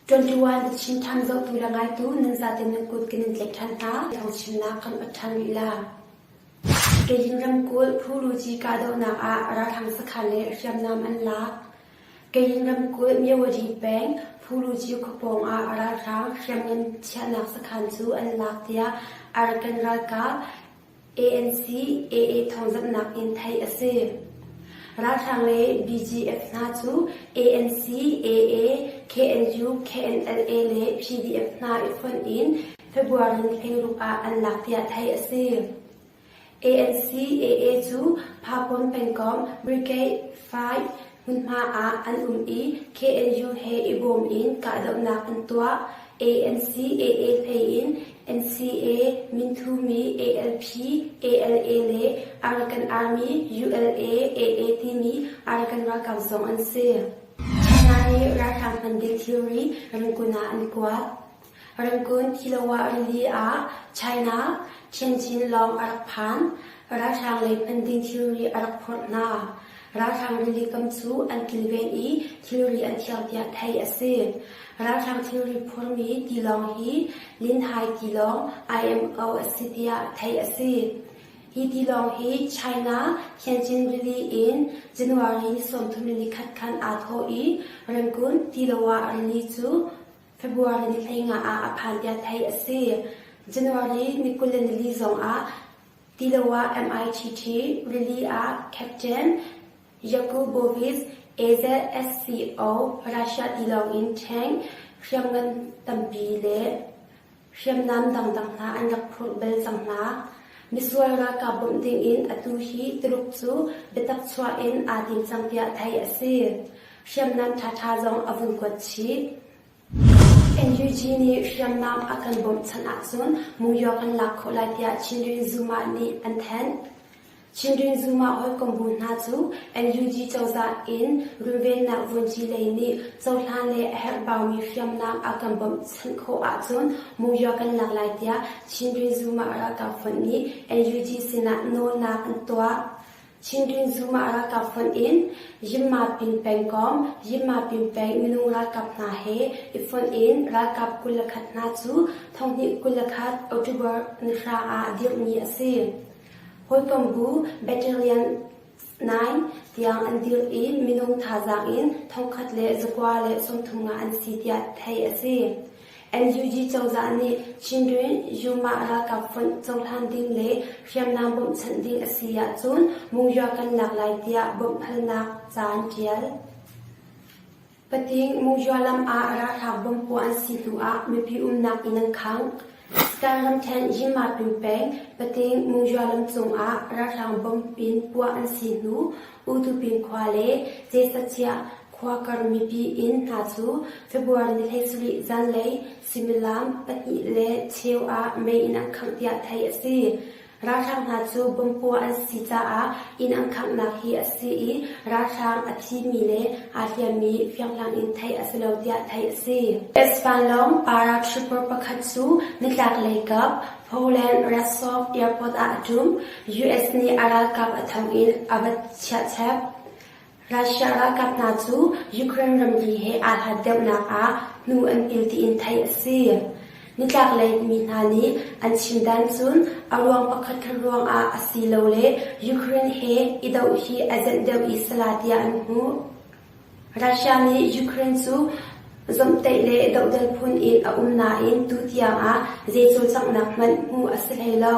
Ṭuanṭuan a chim ṭhan zohtu le ngaitu nan zate nan kut kan in tlaih ṭhan hna i thangchimnak kan onh ṭhan rih la. Keyin ramkulh phuruci kahdohnak ah ralhrang sakhan le hriamnam an lak. Keyin ramkulh Myawadi peng phuruci khuapawng ah ralhrang hriamngan chiahnak sakhan cu an lak tiah Arakan ralkap ANC AA thawngzamhnak in theih a si. Ralhrang le BGF hna cu ANC, AA, KNU, KNLA le PDF hna i fonh in February thleiruk ah an lak tiah theih a si. ANC, AA cu Phakawm pengkomh, Brigade, Five, Hmunhma ah an um i KNU he i bawm in kahdohnak an tuah. ANC AA hlei in NCA, Minthumi, ALP, ALA le Arakan Army, ULA, AA timi Arakan ralkap zong an si. China nih ralhrang hman ding theory ramkun ah an kuat. Ramkulh Kilawah rili ah China Tianjin lawng a rak phan. Ralhrang lei phan ding thilri a rak phurh hna. Ralhrang rili kam cu an kilven i thilri an thiang tiah theih a si. Ralhrang thilri phurmi tilawng hi Linhai tilawng IMO a si tiah theih a si. Hi tilawng hi China Tianjin rili in January ni sawmthum le ni khat khan aa thawh i ramkulh Kilawah rili cu February ni hlei nga ah a phan tiah theih a si. January ni kul le nili zongah Tiloah MITT rili ah captain Yakubovic AZSCO Russia tilawng in tank hriamngan tampi le Hriamnam dangdang hna an rak phurh bal cang hna. Misual ralkap bawmh dingin atu hi Tuluk cu biatak chuah in aa tim cang tiah theih a si. Hriamnam ṭhaṭha zong a vun kuat chih. NUG nih hriamnam a kan bawmh chan ahcun New York an lak khawh lai tiah Chin Rin Zuma nih an thanh. Children Zuma hawikom bu hna cu NUG cozah in runvennak vunci lei nih cohlan le a herhbaumi hriamnam a kan bawmhchanh khawh ahcun Mu Yo kan lak lai tiah Children Zuma ralkap fund nih NUG sinah nawlnak an tuah. Chindrin Zuma ralkap fund in Yimma Pin pengkawm Yimma Pin peng minung ralkap hna he i fund in ralkap kul le khat hna cu thonghnih kul le khat October ni hra ah dirhmi a si. Hawikom bu battalion nine tiang an dirh i minung thazaang in thongkhat le zakua le sawmthum nga an si tiah theih a si. NUG cozah nih Chindrin Yuma ralkap fonh cohlan ding le hriamnam bawmhchanh ding a si ahcun Mungyo kan lak lai tiah bawmhhalnak caan ṭial. Pating Muzhua lam ah ralhrang bom puah an si hnu ah mipi umnak inn an khang. Star ramthen Yima-pin peng Pating Muzhua lam cung ah ralhrang bom in puah an si hnu Utupin khua le Cecasiah khua kar mipi inn hna cu February ni thleisarih zanlei suimilam pahnih le cheu ah mei in an khangh tiah theih a si. Ralhrang hna cu bomb-puah an si caah inn an khanghnak hi a si i ralhrang a thimi le aa hliammi fianghlang in theih a si lo tiah theih a si. Ispanlong para trooper pakhat cu nitlaklei kap Poland Rostov airport ah a ṭum. US nih a ralkap a thang in a va chiahchep. Russia ralkap hna cu Ukraine ramri he aa hlat deuhnak ah hnu an il tiin theih a si. Nitlaklei mi hna nih an chimdan cun a ruang pakhat khat ruangah a silole Ukraine he i doh hi a zenh deuh i sala tiah an hmuh. Russia nih Ukraine cu zomhtaih le dohdal phun in a um nain tu tiangah zei cawlcanghnak hmanh hmuh a si hlei lo.